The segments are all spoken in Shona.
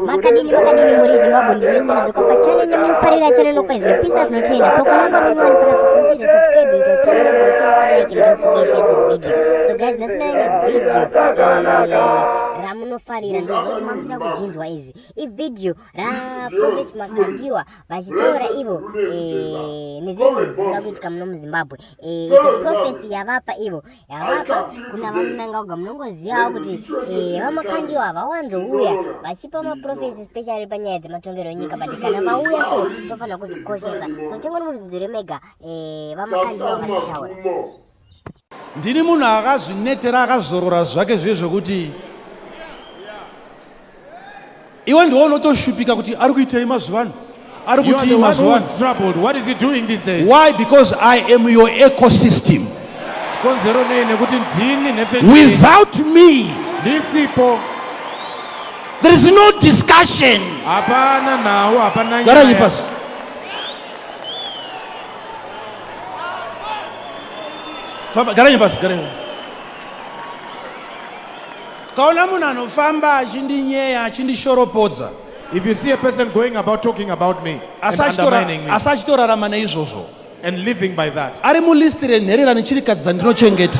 makadini makadini muri zimbabwe ndine nyana dzoka pachannel yenyu munofarira channel lokwa zvinopisa zvinotrenda so kana ungari munyowani kura kukunzira subscribe into channel yangu wese wese like and don't forget share this video so guys nasinaine video ramunofarira ndozoti mamusina kuzvinzwa izvi ivideo ra prophet makandiwa vachitaura ivo eh, nezvinhu zvinoda kuitika muno muzimbabwe eh, prophecy yavapa ivo yavapa kuna vamunangauga munongozivawo kuti eh, vamakandiwa vawanzouya vachipa maprofesi especially panyaya dzematongerwo enyika but kana vauya so tofanira kuzvikoshesa so tingonimuzvinzwire mega vamakandiwa vachitaura Ndini munhu akazvinetera akazorora zvake zviye zvekuti iwe ndiwo unotoshupika kuti ari kuitei mazuva ano ari kutii mazuva why because i am your ecosystem chikonzero nei nekuti ndini nefe without me ndisipo there is no discussion hapana nhau hapana nyaya famba garanyi pasi garanyi kaona munhu anofamba achindinyeya achindishoropodza if you see a person going about talking about me asi achitorarama neizvozvo and living by that ari mulist renherera nechirikadzi dzandinochengeta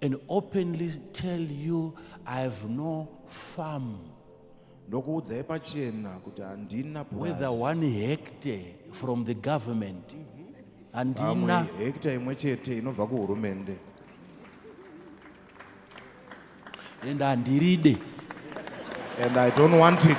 and openly tell you I have no farm. ndokuudzai pachena kuti handina whether one hectare from the government handina hectare imwe chete inobva kuhurumende and handiride and i don't want it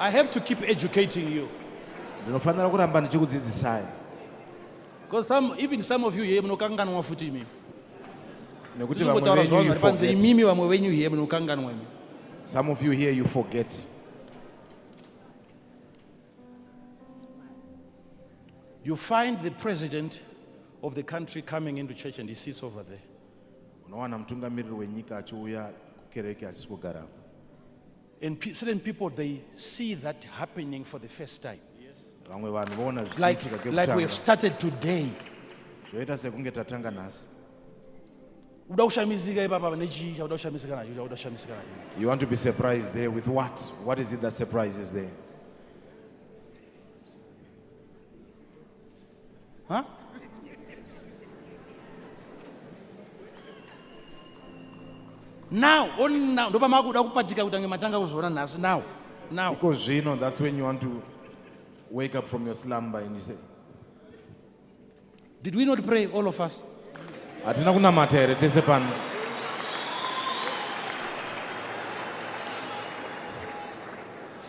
I have to keep educating you. Ndinofanira kuramba ndichikudzidzisai. Because some even some of you here munokanganwa futi imimi. Nekuti vamwe venyu you forget. Imimi vamwe venyu here munokanganwa imimi. Some of you here you forget. You find the president of the country coming into church and he sits over there. Unowana mutungamiriri wenyika achiuya kukereke achisi kugarako. And certain people they see that happening for the first time. Vamwe vanhu voona zvichiitika kekutanga. Like we have started today. Zvoita sekunge tatanga nhasi. Uda kushamizika ipapa pane chii chakuda kushamisika nacho chakuda kushamisika nacho. You want to be surprised there with what? What is it that surprises there? Huh? now on now ndopa makuda kupatika kutange matanga kuzviona nhasi now now because zvino that's when you want to wake up from your slumber and you say did we not pray all of us hatina kunamata here tese pano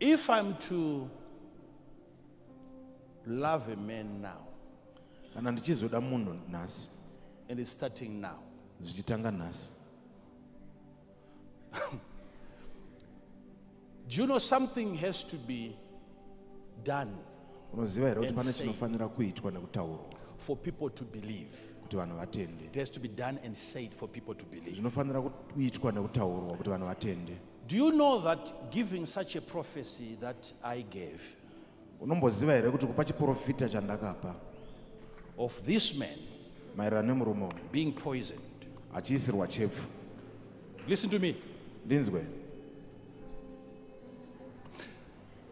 If I'm to love a man now kana ndichizoda munhu nhasi and it's starting now zvichitanga nhasi do you know something has to be done unoziva here kuti pane chinofanira kuitwa nekutaurwa for people to believe kuti vanhu vatende it has to be done and said for people to believe zvinofanira kuitwa nekutaurwa kuti vanhu vatende do you know that giving such a prophecy that i gave unomboziva here kuti kupa chiprofita chandakapa of this man maererano nemurume uyu being poisoned achiisirwa chepfu listen to me ndinzwe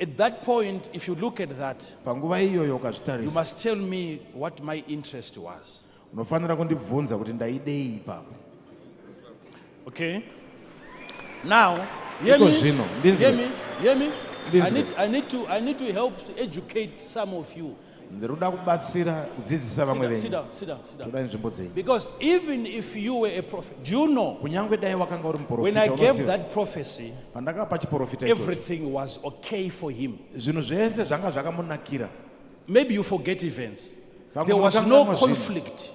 At that point, if you look at that, panguva iyoyo you ukazvitarisa must tell me what my interest was. unofanira kundibvunza kuti ndaidei ipapo Okay? Now, hear Iko me, zvino, ndinzwe. hear me, hear me. I Ndinzwe. need, I, need to, I need to help to educate some of you. ndiri kuda kubatsira kudzidzisa vamwe venyu toda nzvimbo dzenyu because even if you were a prophet do you know kunyange dai wakanga uri muprofita when i gave that prophecy pandakapa chiprofita everything was okay for him zvinhu zvese zvanga zvakamunakira maybe you forget events there was no conflict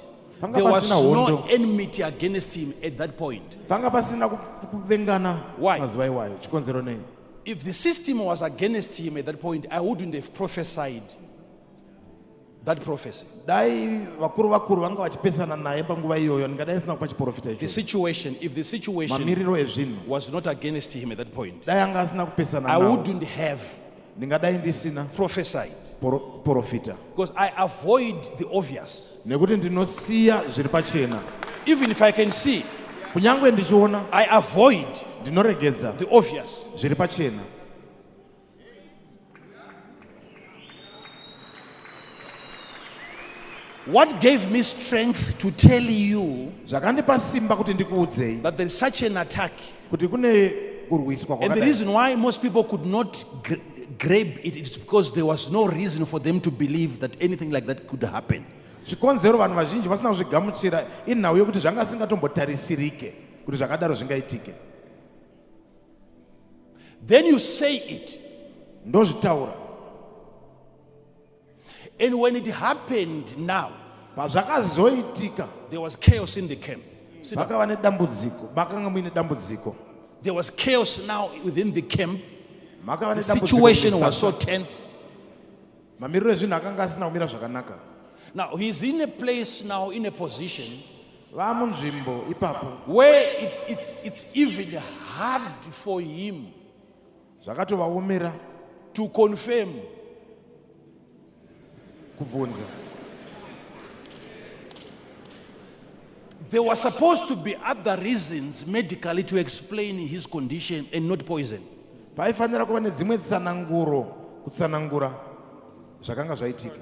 there was no enmity against him at that point panga pasina kuvengana mazuva iwayo chikonzero nei If the system was against him at that point, I wouldn't have prophesied that prophecy. Dai vakuru vakuru vanga vachipesana naye panguva iyoyo ndingadai sina kupa chiprofita icho. The situation, if the situation mamiriro ezvinhu was not against him at that point, dai anga asina kupesana I wouldn't have ndingadai ndisina prophesied profita because I avoid the obvious. nekuti ndinosiya zviri pachena even if i can see kunyange ndichiona i avoid ndinoregedza the obvious zviri pachena what gave me strength to tell you zvakandipa simba kuti ndikuudzei that there is such an attack kuti kune kurwiswa and the reason why most people could not grab it it's because there was no reason for them to believe that anything like that could happen chikonzero vanhu vazhinji vasina kuzvigamuchira inhau yokuti zvanga singatombotarisirike kuti zvakadaro zvingaitike then you say it ndozvitaura And when it happened now, pazvakazoitika there was chaos in the camp. Sit down. pakava nedambudziko makanga muine dambudziko There was chaos now within the camp. makava The nedambudziko situation was so mumisasa. tense. mamiriro ezvinhu akanga asina kumira zvakanaka Now he's in a place now, in a position vaa munzvimbo ipapo where it's, it's, it's even hard for him zvakatovaomera to confirm kubvunza There were supposed to be other reasons medically to explain his condition and not poison. paifanira kuva nedzimwe tsananguro kutsanangura zvakanga zvaitika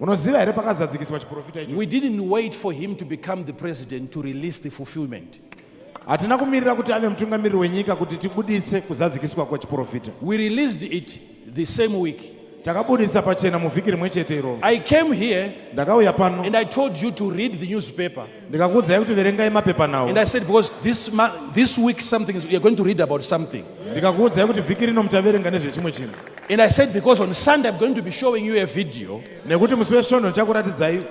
Munoziva here pakazadzikiswa chiprofita icho? We didn't wait for him to become the president to release the fulfillment. Hatina kumirira kuti ave mutungamiriri wenyika kuti tibuditse kuzadzikiswa kwechiprofita. We released it the same week. Takabudisa pachena muvhiki rimwe chete iroro. I came here Ndakauya pano and I told you to read the newspaper. ndikakuudzai kuti verengai mapepanhau and i said because this, ma, this week something is, you're going to read about something ndikakuudzai kuti vhiki rino muchaverenga nezvechimwe chinhu and i said because on sunday i'm going to be showing you a video nekuti musi wesvondo ndichakuratidzai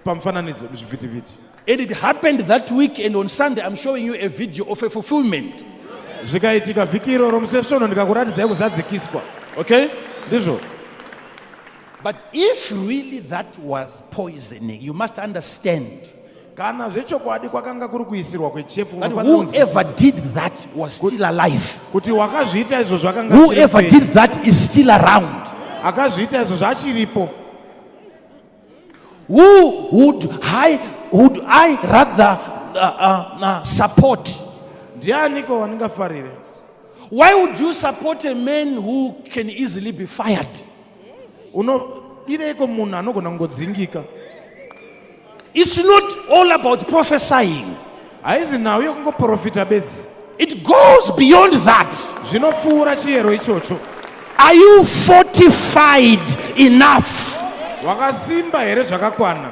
pamufananidzo muzvivhitivhiti and it happened that week and on sunday i'm showing you a video of a fulfillment zvikaitika vhiki iroro musi wesvondo ndikakuratidzai kuzadzikiswa okay ndizvo But if really that was poisoning, you must understand kana zvechokwadi kwakanga kuri kuisirwa kwechefu that unofanira kunzwisisa whoever did that was still alive. kuti wakazviita izvo zvakanga achiri Whoever upenyu. did that is still around. akazviita izvo zvaachiripo Who would I, would I rather uh, uh, uh, support? ndianiko wandingafarire Why would you support a man who can easily be fired? unodireiko munhu anogona kungodzingika its not all about prophesying haizi nhau yekungoprofita bedzi it goes beyond that zvinopfuura chiyero ichocho are you fortified enough wakasimba here zvakakwana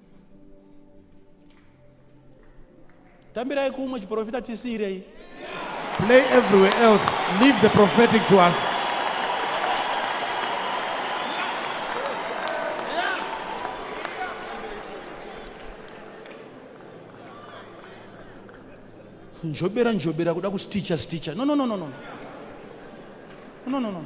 tambirai kumwe chiprofita tisiirei play everywhere else leave the prophetic to us njobera njobera kuda kusticha sticha no no no no no no no no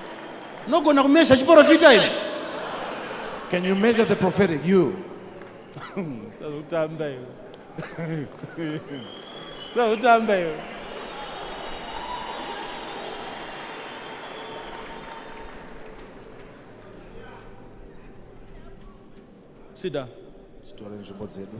Nogona kumezha chiporofita imi. Can you measure the prophetic you? Tazotamba iwe. Tazotamba iwe. Sit down. Sitore nzvimbo dzedu.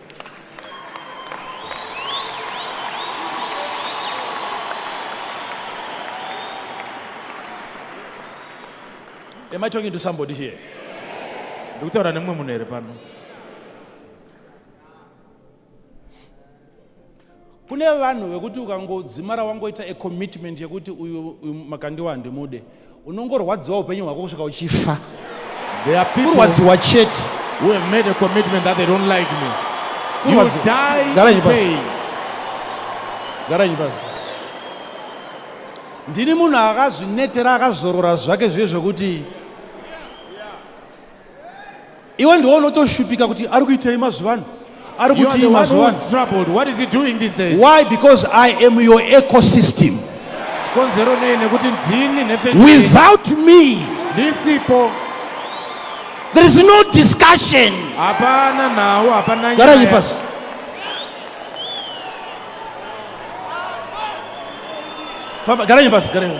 Am I talking to somebody here? ndikutaura nemumwe munhu here pano kune vanhu vekuti ukangodzimara wangoita a commitment yekuti uyu makandiwa handimude unongorwadziwa upenyu hwako kusvika uchifa kurwadziwa chete garanyi pasi ndini munhu akazvinetera akazorora zvake zviye zvekuti iwe ndiwo unotoshupika kuti ari kuitei mazuva ano ari kutii mazuva why because i am your ecosystem chikonzero nei nekuti ndini nhefeni without me ndisipo there is no discussion hapana nhau hapana garanyi pasi garanyi pasi garanyi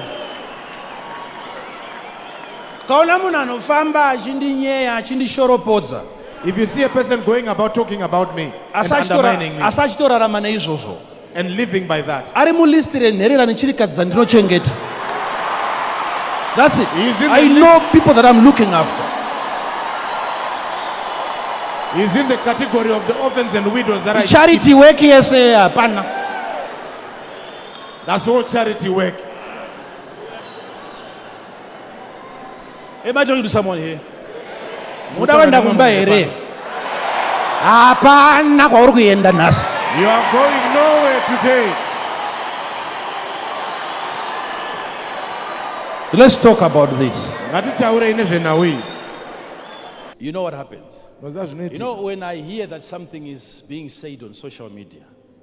Kaona munhu anofamba achindinyeya achindishoropodza. If you see a person going about talking about me and undermining me. Asi achitorarama neizvozvo. And living by that. Ari mulist renherera nechirikadzi dzandinochengeta. That's it. I know people that I'm looking after. He's in the category of the orphans and widows that I Charity work yes eh, hapana. That's all charity work. Hey, am I talking to someone here? Muda wenda kumba here? Hapana kwauri kuenda nhasi. You are going nowhere today. Let's talk about this. Ngatitaurei nezvenhau iyi. You know what happens? You know when I hear that something is being said on social media.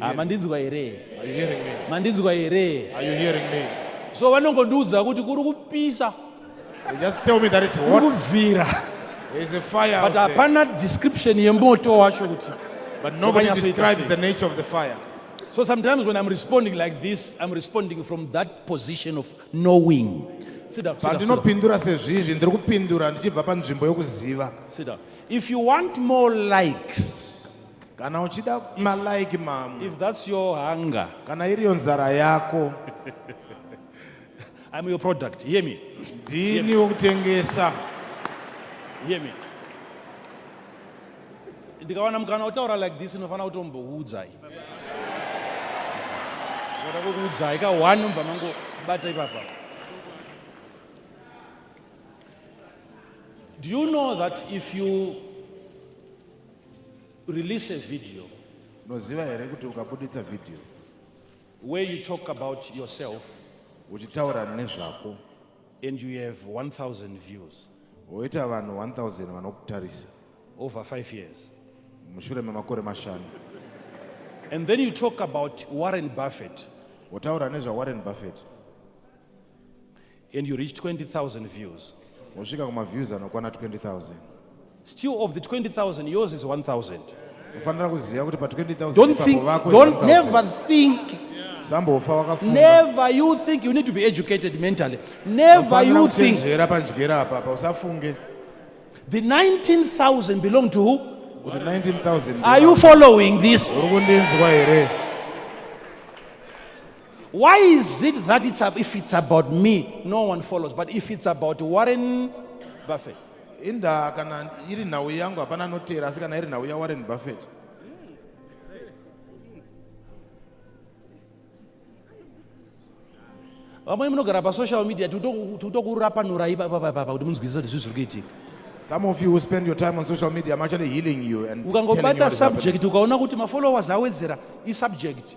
Ah, mandinzwa here mandinzwa here so vanongondiudza kuti kuri kupisa kubvira but hapana description yemoto wacho kuti But nobody describes the nature of the fire. So sometimes when I'm responding like this, I'm responding from that position of knowing. Sit down. Sit down, sit down. Sit down. If you want more likes, Kana uchida ma like mamwe. If that's your hunger. Kana iriyo nzara yako. I'm your product. Hear me. Ndini wokutengesa. Hear me. Ndikawana mukana utaura like this inofanira kutombokuudzai. Ngoda kukuudzai ka one mva mango bata ipapa. Do you know that if you Release a video. Unoziva here kuti ukabuditsa video where you talk about yourself uchitaura nezvako and you have 1000 views woita vanhu 1000 vanokutarisa over 5 years mushure memakore mashanu and then you talk about Warren Buffett wotaura nezvaWarren Buffett and you reach 20000 views wosvika kumaviews anokwana 20000 still of the 20000 yours is 1000 ufanira kuziva kuti pa 20000 never think sambofa wakafunga never you think you need to be educated mentally never you think njera panjera apa pa usafunge the 19000 belong to who kuti 19000 are you following this uri kundinzwa here Why is it that it's a, if it's about me, no one follows, but if it's about Warren Buffett? inda kana iri nhau yangu hapana anoteera asi kana iri nhau yawarren buffett vamwe munogara pasocial media tikutokurapanorai papapapa kuti munzwisisa kuti zvii zviri kuitika Some of you who spend your time on social media, I'm actually healing you and telling you what is happening. ukangobata subject ukaona kuti mafollowers awedzera isubject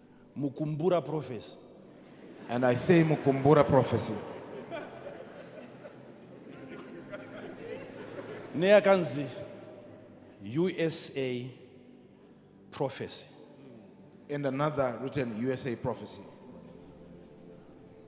Mukumbura prophecy. And I say Mukumbura prophecy. neyakanzi usa prophecy and another written usa prophecy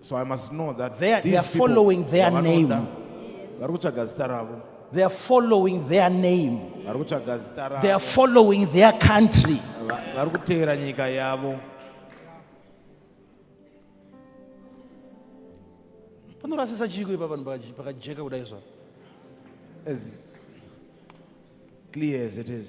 So I must know that they are, they are following their name. They are following their name. They are following their country. panorasisa chiiko ipa vanhu pakajeka kudai zva as clear as it is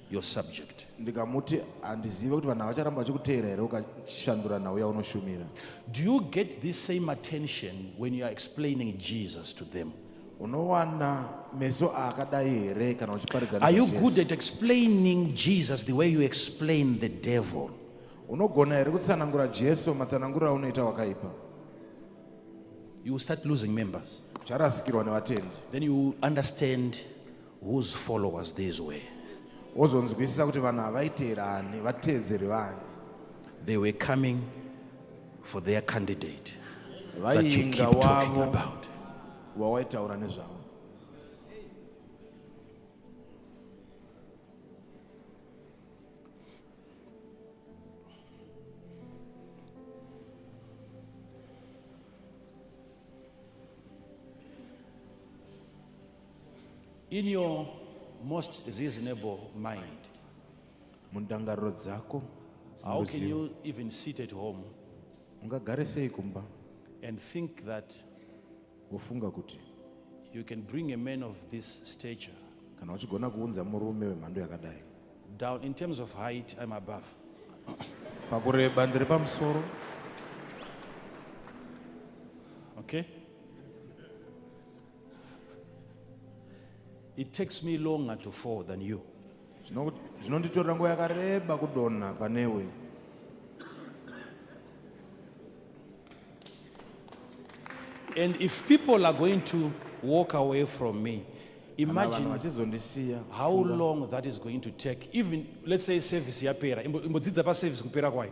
your subject ndikamuti handizive kuti vanhu havacharamba vachikuteera here ukashandura nhau yaunoshumira do you get this same attention when you are explaining jesus to them unowana meso akadai here kana uchiparidza are you good at explaining jesus the way you explain the devil unogona here kutsanangura jesu matsananguro aunoita wakaipa you will start losing members ucharasikirwa nevatendi then you understand Whose followers these were. Wozonzwisisa kuti vanhu havaiteera ani, vateedzeri vani. They were coming for their candidate that you keep talking about. Wawaitaura nezvavo. In your most reasonable mind. Mundangariro dzako. How can you even sit at home? Ungagare sei kumba? And think that. Wofunga kuti. You can bring a man of this stature. Kana uchigona kuunza murume wemhando yakadai. Down in terms of height I'm above. Pakureba ndiri pamusoro. Okay? It takes me longer to fall than you. Zvinonditorera nguva yakareba kudonha panewe. And if people are going to walk away from me, imagine how long that is going to take. Even, let's say service yapera, imbodzidza pa service kupera kwayo.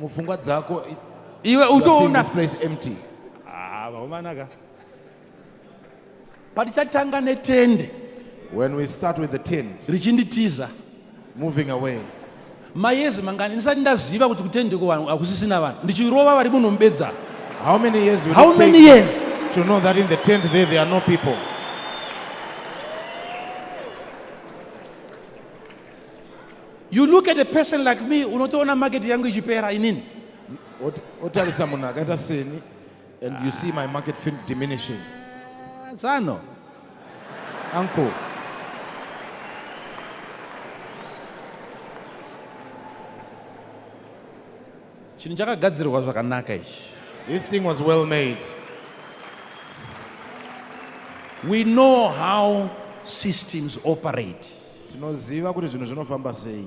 mupfungwa dzako iwe utoona place empty ah vakomana ka patichatanga netende when we start with the tent richinditiza moving away mayezi mangani ndisati ndaziva kuti kutende kuvanhu hakusisina vanhu ndichirova vari muno mubedza how many years will how many years to know that in the tent there there are no people You look at a person like me, unotoona market yangu ichipera inini. Otarisa munhu akaita seni and you see my market fin diminishing. Tsano. Ah, Uncle. Chinhu chakagadzirwa zvakanaka ichi. This thing was well made. We know how systems operate. Tinoziva kuti zvinhu zvinofamba sei.